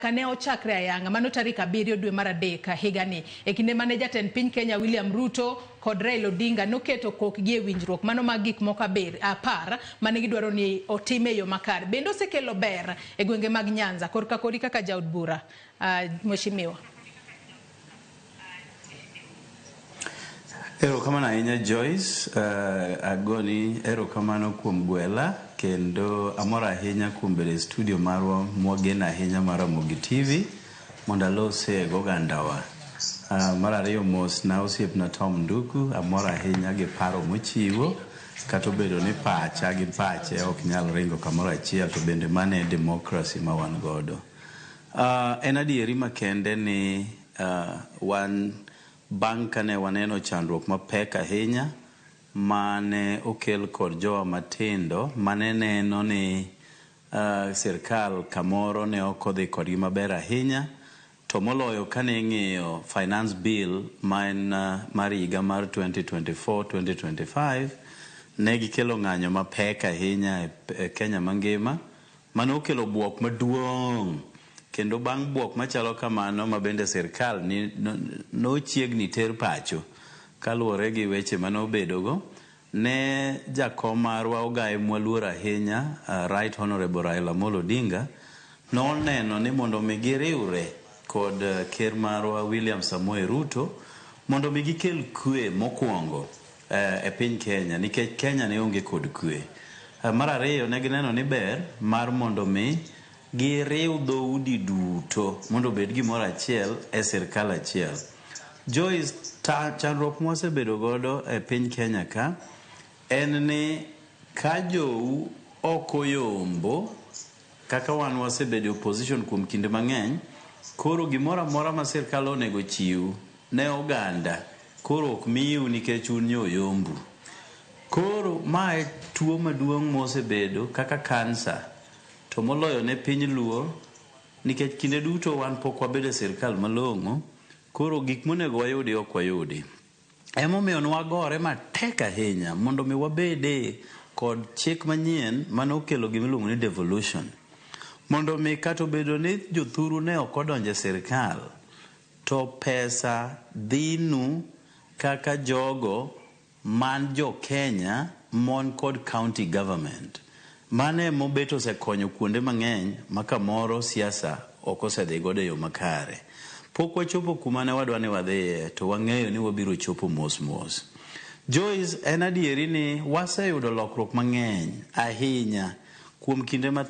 ka ne ochakre ayanga mano tarik abiriyo dwe mar adek higani e kinde mane jatend piny Kenya William Ruto kod Raila Odinga noketo kokgi e winjruok mano mag gik moko aber- apar mane gidwaro ni otim e yo makare bende osekelo ber e gwenge mag Nyanza korka kori kaka jaod bura ah, Mheshimiwa. Erokamano ahinya Joyce, uh, agoni erokamano kuom gwela kendo amor ahinya kuom bedo e studio marwa mwagen ahinya mar Ramogi TV mondo alose gogandawa. Uh, mar ariyo mos na osiepna Tom Nduku, amor ahinya gi paro mochiwo kata obedo ni pacha gi pache ok nyal ringo kamoro achiel to bende mano e demokrasi ma wan godo. En adieri makende ni wan bang' kane waneno chandruok mapek ahinya ma ne okel kod jowa matindo ma ne neno ni sirkal kamoro ne ok odhi kodgi maber ahinya, to moloyo kane ing'iyo Finance Bill ma en mar higa mar 2024-2025, ne gikelo ng'anyo mapek ahinya e Kenya mangima. Mano okelo bwok maduong', kendo bang' bwok machalo kamano ma bende sirkal nochiegni ter pacho kaluwore gi weche mane obedogo, ne jakom marwa ogaye mwaluoro ahinya Right Honourable Raila Amolo Odinga noneno ni mondo omi giriwre kod ker marwa William Samoei Ruto mondo omi gikel kwe mokwongo. e piny Kenya nikech Kenya ne onge kod kwe. Mar ariyo ne gineno ni ber mar mondo mi giriw dhoudi duto mondo obed gimoro achiel e sirkal achiel. Joyce, chandruok mwasebedo godo e piny Kenya ka en ni ka jou ok oyombo Kaka wan wasebedo e opposition kuom kinde mang'eny, koro gimoro amora ma sirkal onego chiw ne oganda koro ok miu nikech un nyo oyombu. Koro ma e tuo maduong' mosebedo kaka kansa to moloyo ne piny Luo nikech kinde duto wan pok wabedo e sirkal malong'o koro gik monego wayudi ok wayudi. Emomiyo nwagore matek ahinya mondo mi wabede kod chik manyien mane okelo gima iluongo ni devolution. Mondo mi kata obedo ni jothuru ne ok odonjo e sirkal, to pesa dhinu kaka jogo man jo Kenya mon kod county government. Mano e mobet osekonyo kuonde mang'eny ma kamoro siasa ok osedhi godo e yo makare. Pok wachopo kuma ne wadwa ni wadhiye, to wang'eyo ni wabiro chopo mos mos. Joyce, En adieri ni waseyudo lokruok mang'eny ahinya kuom kinde mathin.